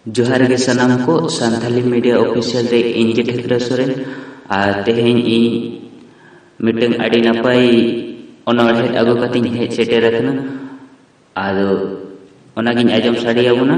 ᱡᱚᱦᱟᱨ ᱜᱮ ᱥᱟᱱᱟᱢ ᱠᱚ ᱥᱟᱱᱛᱟᱞᱤ ᱢᱤᱰᱤᱭᱟ ᱚᱯᱷᱤᱥᱤᱭᱟᱞ ᱨᱮ ᱤᱧ ᱜᱮ ᱴᱷᱟᱹᱠᱨᱟ ᱥᱚᱨᱮᱱ ᱟᱨ ᱛᱮᱦᱮᱧ ᱤᱧ ᱢᱤᱫᱴᱟᱝ ᱟᱹᱰᱤ ᱱᱟᱯᱟᱭ ᱚᱱᱚᱬᱦᱮᱸ ᱟᱹᱜᱩ ᱠᱟᱛᱮᱧ ᱦᱮᱡ ᱥᱮᱴᱮᱨ ᱟᱠᱟᱱᱟ ᱟᱫᱚ ᱚᱱᱟᱜᱤᱧ ᱟᱸᱡᱚᱢ ᱥᱟᱰᱮᱭᱟᱵᱚᱱᱟ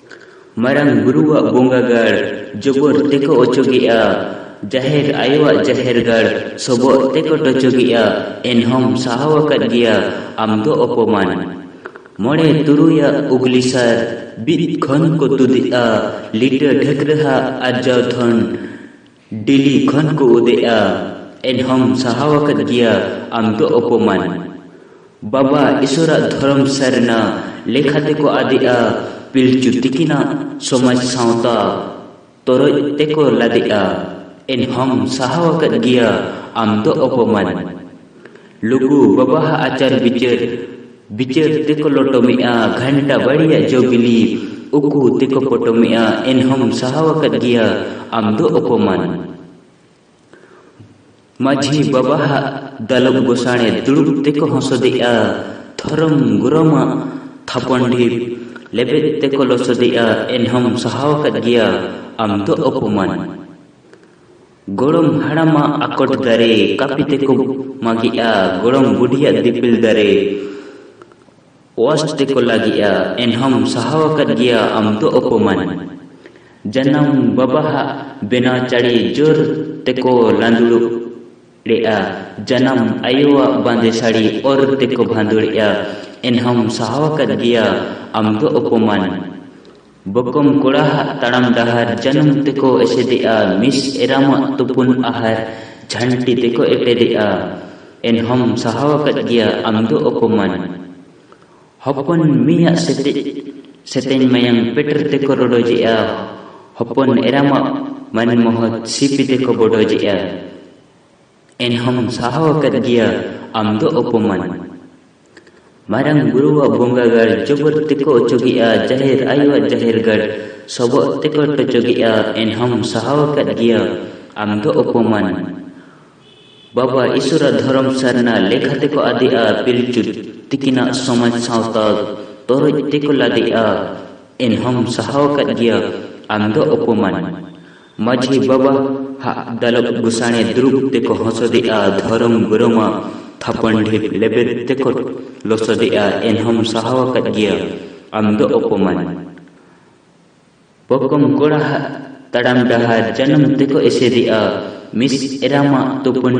ᱢᱟᱨᱟᱝ ᱵᱩᱨᱩᱣᱟᱜ ᱵᱚᱸᱜᱟ ᱜᱟᱲ ᱡᱚᱵᱚᱨ ᱛᱮᱠᱚ ᱚᱪᱚᱜᱮᱜᱼᱟ, ᱡᱟᱦᱮᱨ ᱟᱭᱳᱣᱟᱜ ᱡᱟᱦᱮᱨ ᱜᱟᱲ ᱥᱚᱵᱚᱜ ᱛᱮᱠᱚ ᱴᱚᱪᱚᱜᱮᱜᱼᱟ, ᱮᱱᱦᱚᱸᱢ ᱥᱟᱦᱟᱣ ᱟᱠᱟᱫ ᱜᱮᱭᱟ ᱟᱢ ᱫᱚ ᱚᱯᱚᱢᱟᱱ᱾ ᱢᱚᱬᱮ ᱛᱩᱨᱩᱭᱟᱜ ᱩᱜᱽᱞᱤᱥᱟᱨ ᱵᱤᱫ ᱠᱷᱚᱱ ᱠᱚ ᱛᱩᱫᱮᱜᱼᱟ ᱞᱤᱴᱟᱹ ᱰᱷᱟᱹᱠᱨᱟᱹᱦᱟᱜ ᱟᱨᱡᱟᱣ ᱫᱷᱚᱱ᱾ ᱰᱤᱞᱤ ᱠᱷᱚᱱ ᱠᱚ ᱩᱫᱮᱜᱼᱟ ᱮᱱᱦᱚᱢ ᱥᱟᱦᱟᱣ ᱟᱠᱟᱫ ᱜᱮᱭᱟ ᱟᱢ ᱫᱚ ᱚᱯᱚᱢᱟᱱ ᱵᱟᱵᱟ ᱤᱥᱚᱨᱟᱜ ᱫᱷᱚᱨᱚᱢ ᱥᱟᱨᱱᱟ ᱞᱮᱠᱷᱟ ᱛᱮᱠᱚ ᱟᱫᱮᱜᱼᱟ ᱯᱤᱞᱪᱩ ᱛᱤᱠᱤᱱᱟᱜ ᱥᱚᱢᱟᱡᱽ ᱥᱟᱶᱛᱟ ᱛᱚᱨᱚᱡ ᱛᱮᱠᱚ ᱞᱟᱫᱮᱜᱼᱟ ᱮᱱᱦᱚᱢ ᱥᱟᱦᱟᱣ ᱟᱠᱟᱫ ᱜᱮᱭᱟ ᱟᱢ ᱫᱚ ᱚᱯᱚᱢᱟᱱ ᱞᱩᱜᱩ ᱵᱟᱵᱟᱦᱟᱜ ᱟᱪᱟᱨ ᱵᱤᱪᱟᱹᱨ ᱵᱤᱪᱟᱹᱨ ᱛᱮᱠᱚ ᱞᱚᱴᱚᱢᱮᱜᱼᱟ ᱜᱷᱟᱱᱴᱟ ᱵᱟᱲᱤᱭᱟᱜ ᱡᱚ ᱵᱤᱞᱤ ᱩᱠᱩ ᱛᱮᱠᱚ ᱯᱚᱴᱚᱢᱮᱜᱼᱟ ᱮᱱᱦᱚᱢ ᱥᱟᱦᱟᱣ ᱟᱠᱟᱫ ᱜᱮᱭᱟ ᱟᱢ ᱫᱚ ᱚᱯᱚᱢᱟᱱ ᱢᱟᱹᱡᱷᱤ ᱵᱟᱵᱟᱦᱟᱜ ᱫᱟᱞᱚᱵ ᱜᱚᱥᱟᱬᱮ ᱫᱩᱲᱩᱵ ᱛᱮᱠᱚ ᱦᱚᱸᱥᱚᱫᱮᱜᱼᱟ ᱫᱷᱚᱨᱚᱢ ᱜᱚᱨᱚᱢᱟᱜ ᱛᱷᱟᱯᱚᱱ ᱰᱷᱤᱯ ᱞᱮᱵᱮᱫ ᱛᱮᱠᱚ ᱞᱚᱥᱚᱫᱮᱜᱼᱟ ᱮᱱᱦᱚᱢ ᱥᱟᱦᱟᱣ ᱟᱠᱟᱫ ᱜᱮᱭᱟ ᱟᱢ ᱫᱚ ᱚᱯᱚᱢᱟᱱ ᱜᱚᱲᱚᱢ ᱦᱟᱲᱟᱢᱟᱜ ᱟᱠᱚᱴ ᱫᱟᱨᱮ ᱠᱟᱹᱯᱤ ᱛᱮᱠᱚ ᱢᱟᱜᱮᱜᱼᱟ ᱜᱚᱲᱚᱢ ᱵᱩᱰᱷᱤᱭᱟᱜ ᱫᱤᱯᱤᱞ ᱫᱟᱨᱮ ᱚᱣᱟᱥ ᱛᱮᱠᱚ ᱞᱟᱜᱮᱜᱼᱟ ᱮᱱᱦᱚᱢ ᱥᱟᱦᱟᱣ ᱟᱠᱟᱫ ᱜᱮᱭᱟ ᱟᱢ ᱫᱚ ᱚᱯᱚᱢᱟᱱ ᱡᱟᱱᱟᱢ ᱵᱟᱵᱟᱦᱟᱜ ᱵᱮᱱᱟᱣ ᱪᱟᱹᱲᱤ ᱡᱳᱨ ᱛᱮᱠᱚ ᱞᱟᱸᱫᱩᱲ ᱮᱜᱼᱟ ᱡᱟᱱᱟᱢ ᱟᱭᱳᱣᱟᱜ ᱵᱟᱸᱫᱮ ᱥᱟᱹᱲᱤ ᱚᱨ ᱛᱮᱠᱚ ᱵᱷᱟᱸᱫᱩᱲᱮᱜᱼᱟ ᱮᱱᱦᱚᱢ ᱥᱟᱦᱟᱣ ᱟᱠᱟᱫ ᱜᱮᱭᱟ ᱟᱢ ᱫᱚ ᱚᱯᱚᱢᱟᱱ ᱵᱚᱠᱚᱢ ᱠᱚᱲᱟ ᱦᱟᱜ ᱛᱟᱲᱟᱢ ᱰᱟᱦᱟᱨ ᱡᱟᱹᱱᱩᱢ ᱛᱮᱠᱚ ᱮᱥᱮᱫᱮᱜᱼᱟ ᱢᱤᱥ ᱮᱨᱟᱢᱟᱜ ᱛᱩᱯᱩᱱ ᱟᱦᱟᱨ ᱡᱷᱟᱹᱱᱴᱤ ᱛᱮᱠᱚ ᱮᱴᱮᱫᱮᱜᱼᱟ ᱮᱱᱦᱚᱢ ᱥᱟᱦᱟᱣ ᱟᱠᱟᱫ ᱜᱮᱭᱟ ᱟᱢ ᱫᱚ ᱚᱯᱚᱢᱟᱱ ᱦᱚᱯᱚᱱ ᱢᱤᱭᱟᱜ ᱥᱮᱛᱮᱡ ᱥᱮᱛᱮᱧ ᱢᱟᱭᱟᱝ ᱯᱮᱴᱮᱨ ᱛᱮᱠᱚ ᱨᱚᱰᱚᱡᱮᱜᱼᱟ ᱦᱚᱯᱚᱱ ᱮᱨᱟᱢᱟᱜ ᱢᱟᱱ ᱢᱚᱦᱚᱛ ᱥᱤᱯᱤ ᱛᱮᱠᱚ ᱵᱚᱰᱚᱡᱮᱜᱼᱟ ᱮᱱᱦᱚᱢ ᱥᱟᱦᱟᱣ ᱟᱠᱟᱫ ᱜᱮᱭᱟ ᱟᱢ ᱫᱚ ᱚᱯᱚᱢᱟᱱ᱾ ᱢᱟᱨᱟᱝ ᱵᱩᱨᱩᱣᱟᱜ ᱵᱚᱸᱜᱟ ᱜᱟᱲ ᱡᱚᱵᱚᱨ ᱛᱮᱠᱚ ᱚᱪᱚᱜᱮᱜᱼᱟ ᱡᱟᱦᱮᱨ ᱟᱭᱳᱣᱟᱜ ᱡᱟᱦᱮᱨ ᱜᱟᱲ ᱥᱚᱵᱚᱜ ᱛᱮᱠᱚ ᱴᱚᱪᱚᱜᱮᱜᱼᱟ ᱮᱱᱦᱚᱢ ᱥᱟᱦᱟᱣ ᱟᱠᱟᱫ ᱜᱮᱭᱟ ᱟᱢ ᱫᱚ ᱚᱯᱚᱢᱟᱱ ᱵᱟᱵᱟ ᱤᱥᱚᱨᱟᱜ ᱫᱷᱚᱨᱚᱢ ᱥᱟᱨᱱᱟ ᱞᱮᱠᱷᱟ ᱛᱮᱠᱚ ᱟᱫᱮᱜᱼᱟ ᱯᱤᱞᱪᱩ ᱛᱤᱠᱤᱱᱟᱜ ᱥᱚᱢᱟᱡᱽ ᱥᱟᱶᱛᱟ ᱛᱚᱨᱚᱡ ᱛᱮᱠᱚ ᱞᱟᱫᱮᱜᱼᱟ ᱮᱱᱦᱚᱢ ᱥᱟᱦᱟᱣ ᱟᱠᱟᱫ ᱜᱮᱭᱟ ᱟᱢ ᱫᱚ ᱚᱯᱚᱢᱟᱱ ᱢᱟᱹᱡᱷᱤ ᱵᱟᱵᱟ ᱦᱟᱜ ᱫᱟᱞᱚᱵ ᱜᱩᱥᱟᱬᱮ ᱫᱩᱲᱩᱵ ᱛᱮᱠᱚ ᱦᱚᱥᱚᱫᱮᱜᱼᱟ ᱫᱷᱚᱨᱚᱢ ᱜᱩᱨᱩᱢᱟ ᱛᱷᱟᱯᱚᱱ ᱰᱷᱤᱯ ᱞᱮᱵᱮᱫ ᱛᱮᱠᱚ ᱞᱚᱥᱚᱫᱮᱜᱼᱟ ᱮᱱᱦᱚᱢ ᱥᱟᱦᱟᱣ ᱟᱠᱟᱫ ᱜᱮᱭᱟ ᱟᱢ ᱫᱚ ᱚᱯᱚᱢᱟᱱ ᱯᱚᱠᱚᱢ ᱠᱚᱲᱟ ᱦᱟᱜ ᱛᱟᱲᱟᱢ ᱰᱟᱦᱟᱨ ᱡᱟᱱᱟᱢ ᱛᱮᱠᱚ ᱮᱥᱮᱫᱮᱜᱼᱟ ᱢᱤᱥ ᱮᱨᱟᱢᱟ ᱛᱩᱯᱩᱱ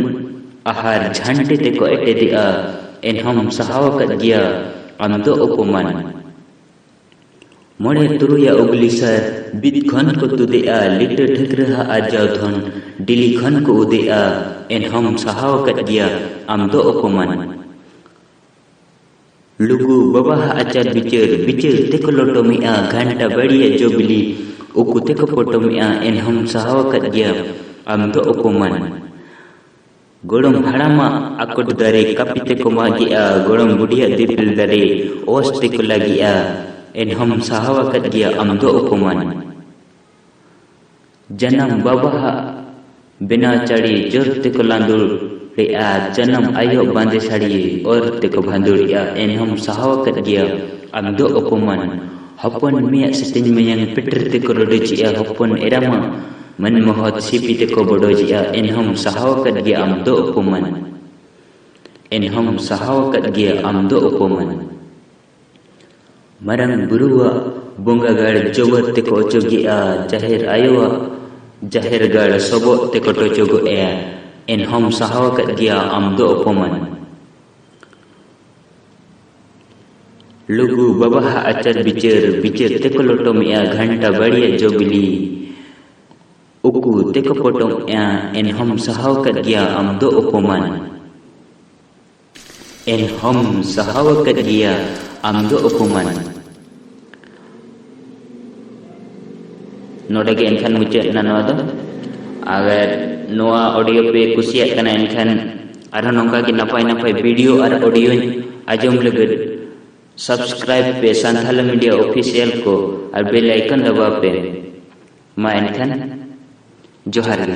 ᱟᱦᱟᱨ ᱡᱷᱟᱱᱴᱤ ᱛᱮᱠᱚ ᱮᱴᱮᱫᱮᱜᱼᱟ ᱮᱱᱦᱚᱢ ᱥᱟᱦᱟᱣ ᱟᱠᱟᱫ ᱜᱮᱭᱟ ᱟᱢ ᱫᱚ ᱚᱯᱚᱢᱟᱱ ᱢᱚᱬᱮ ᱛᱩᱨᱩᱭ ᱚᱜᱽᱞᱤ ᱥᱟᱨ ᱵᱤᱫ ᱠᱷᱚᱱ ᱠᱚ ᱛᱩᱫᱮᱜᱼᱟ ᱞᱤᱴᱟᱹ ᱴᱷᱟᱹᱠᱨᱟᱹ ᱦᱟᱜ ᱟᱨᱡᱟᱣ ᱫᱷᱚᱱ ᱰᱤᱞᱤ ᱠᱷᱚᱱ ᱠᱚ ᱩᱫᱮᱜᱼᱟ ᱮᱱᱦᱚᱢ ᱥᱟᱦᱟᱣ ᱟᱠᱟᱫ ᱜᱮᱭᱟ ᱟᱢ ᱫᱚ ᱚᱯᱚᱢᱟᱱ ᱞᱩᱜᱩ ᱵᱟᱵᱟ ᱦᱟᱜ ᱟᱪᱟᱨ ᱵᱤᱪᱟᱹᱨ ᱵᱤᱪᱟᱹᱨ ᱛᱮᱠᱚ ᱞᱚᱴᱚᱢᱮᱜᱼᱟ ᱜᱷᱟᱱᱴᱟ ᱵᱟᱹᱲᱤᱭᱟ ᱡᱚ ᱵᱤᱞᱤ ᱩᱠᱩ ᱛᱮᱠᱚ ᱯᱚᱴᱚᱢᱮᱜᱼᱟ ᱮᱱᱦᱚᱢ ᱥᱟᱦᱟᱣ ᱟᱠᱟᱫ ᱜᱮᱭᱟ ᱟᱢ ᱫᱚ ᱚᱯᱚᱢᱟᱱ ᱜᱚᱲᱚᱢ ᱦᱟᱲᱟᱢᱟᱜ ᱟᱠᱚᱴ ᱫᱟᱨᱮ ᱠᱟᱹᱯᱤ ᱛᱮᱠᱚ ᱢᱟᱜᱮᱜᱼᱟ ᱜᱚᱲᱚᱢ ᱵᱩᱰᱷᱤᱭᱟᱜ ᱫᱤᱯᱤᱞ ᱫᱟᱨᱮ ᱚᱥ ᱛᱮᱠᱚ ᱞᱟᱜᱮᱜᱼᱟ ᱮᱱᱦᱚᱢ ᱥᱟᱦᱟᱣ ᱟᱠᱟᱫ ᱜᱮᱭᱟ ᱟᱢ ᱫᱚ ᱚᱯᱚᱢᱟᱱ ᱡᱟᱱᱟᱢ ᱵᱟᱵᱟᱦᱟᱜ ᱵᱮᱱᱟᱣ ᱪᱟᱹᱲᱤ ᱡᱳᱨ ᱛᱮᱠᱚ ᱞᱟᱸᱫᱩᱲᱮᱜᱼᱟ ᱡᱟᱱᱟᱢ ᱟᱭᱳ ᱵᱟᱸᱫᱮ ᱥᱟᱹᱲᱤ ᱚᱨ ᱛᱮᱠᱚ ᱵᱷᱟᱸᱫᱩᱲᱮᱜᱼᱟ ᱮᱱᱦᱚᱢ ᱥᱟᱦᱟᱣ ᱟᱠᱟᱫ ᱜᱮᱭᱟ ᱟᱢ ᱫᱚ ᱚᱯᱚᱢᱟᱱ ᱦᱚᱯᱚᱱ ᱢᱮᱭᱟᱜ ᱥᱮᱛᱮᱧ ᱢᱟᱭᱟᱝ ᱯᱮᱴᱮᱨ ᱛᱮᱠᱚ ᱨᱚᱰᱚᱡᱮᱜᱼᱟ ᱦᱚᱯᱚᱱ ᱮᱨᱟ ᱢᱟ ᱢᱟᱹᱱ ᱢᱚᱦᱚᱛ ᱥᱤᱯᱤ ᱛᱮᱠᱚ ᱵᱚᱰᱚᱡᱮᱜᱼᱟ ᱮᱱᱦᱚᱢ ᱥᱟᱦᱟᱣ ᱟᱠᱟᱫ ᱜᱮᱭᱟ ᱟᱢ ᱫᱚ ᱚᱯᱚᱢᱟᱱ ᱮᱱᱦᱚᱢ ᱥᱟᱦᱟᱣ ᱟᱠᱟᱫ ᱜᱮᱭᱟ ᱟᱢ ᱫᱚ ᱚᱯᱚᱢᱟᱱ ᱢᱟᱨᱟᱝ ᱵᱩᱨᱩᱣᱟᱜ ᱵᱚᱸᱜᱟ ᱜᱟᱲ ᱡᱚᱵᱚᱨ ᱛᱮᱠᱚ ᱚᱪᱚᱜᱮᱜᱼᱟ ᱡᱟᱦᱮᱨ ᱟᱭᱳᱣᱟᱜ ᱡᱟᱦᱮᱨ ᱜᱟᱲ ᱥᱚᱵᱚᱜ ᱛᱮᱠᱚ ᱴᱚᱪᱚᱜᱚᱜᱼᱮᱜᱼᱟ ᱮᱱᱦᱚᱢ ᱥᱟᱦᱟᱣ ᱟᱠᱟᱫ ᱜᱮᱭᱟ ᱟᱢ ᱫᱚ ᱚᱯᱚᱢᱟᱱ᱾ ᱞᱩᱜᱩ ᱵᱟᱵᱟᱦᱟᱜ ᱟᱪᱟᱨ ᱵᱤᱪᱟᱹᱨ ᱵᱤᱪᱟᱹᱨ ᱛᱮᱠᱚ ᱞᱚᱴᱚᱢᱮᱜᱼᱟ ᱜᱷᱟᱱᱴᱟ ᱵᱟᱲᱤᱭᱟ ᱡᱚᱵᱤᱞᱤ ᱩᱠᱩ ᱛᱮᱠᱚ ᱯᱚᱴᱚᱢᱮᱜᱼᱟ ᱮᱱᱦᱚᱢ ᱥᱟᱦᱟᱣ ᱠᱟᱫ ᱜᱮᱭᱟ ᱟᱢ ᱫᱚ ᱚᱯᱚᱢᱟᱱ ᱮᱱᱦᱚᱢ ᱥᱟᱦᱟᱣ ᱠᱟᱫ ᱜᱮᱭᱟ ᱟᱢ ᱫᱚ ᱚᱯᱚᱢᱟᱱ ᱱᱚᱰᱮ ᱜᱮ ᱮᱱᱠᱷᱟᱱ ᱢᱩᱪᱟᱹᱫ ᱮᱱᱟ ᱱᱚᱣᱟ ᱫᱚ ᱟᱜᱟᱨ ᱱᱚᱣᱟ ᱚᱰᱤᱭᱳ ᱯᱮ ᱠᱩᱥᱤᱭᱟᱜ ᱠᱟᱱᱟ ᱮᱱᱠᱷᱟᱱ ᱟᱨᱦᱚᱸ ᱱᱚᱝᱠᱟ ᱜᱮ ᱱᱟᱯᱟᱭ ᱱᱟᱯᱟᱭ ᱵᱷᱤᱰᱤᱭᱳ ᱟᱨ ᱚᱰᱤᱭᱳ ᱟᱸᱡᱚᱢ ᱞᱟᱹᱜᱤᱫ ᱥᱟᱵᱥᱠᱨᱟᱭᱤᱵ ᱯᱮ ᱥᱟᱱᱛᱷᱟᱞ ᱢᱤᱰᱤᱭᱟ ᱚᱯᱷᱤᱥᱤᱭᱟᱞ ᱠᱚ ᱟᱨ ᱵᱮᱞ ᱟᱭᱠᱚᱱ ᱫᱟᱵᱟᱣ ᱯᱮ ᱢᱟ ᱮᱱᱠᱷᱟᱱ ᱡᱚᱦᱟᱨ ᱜᱮ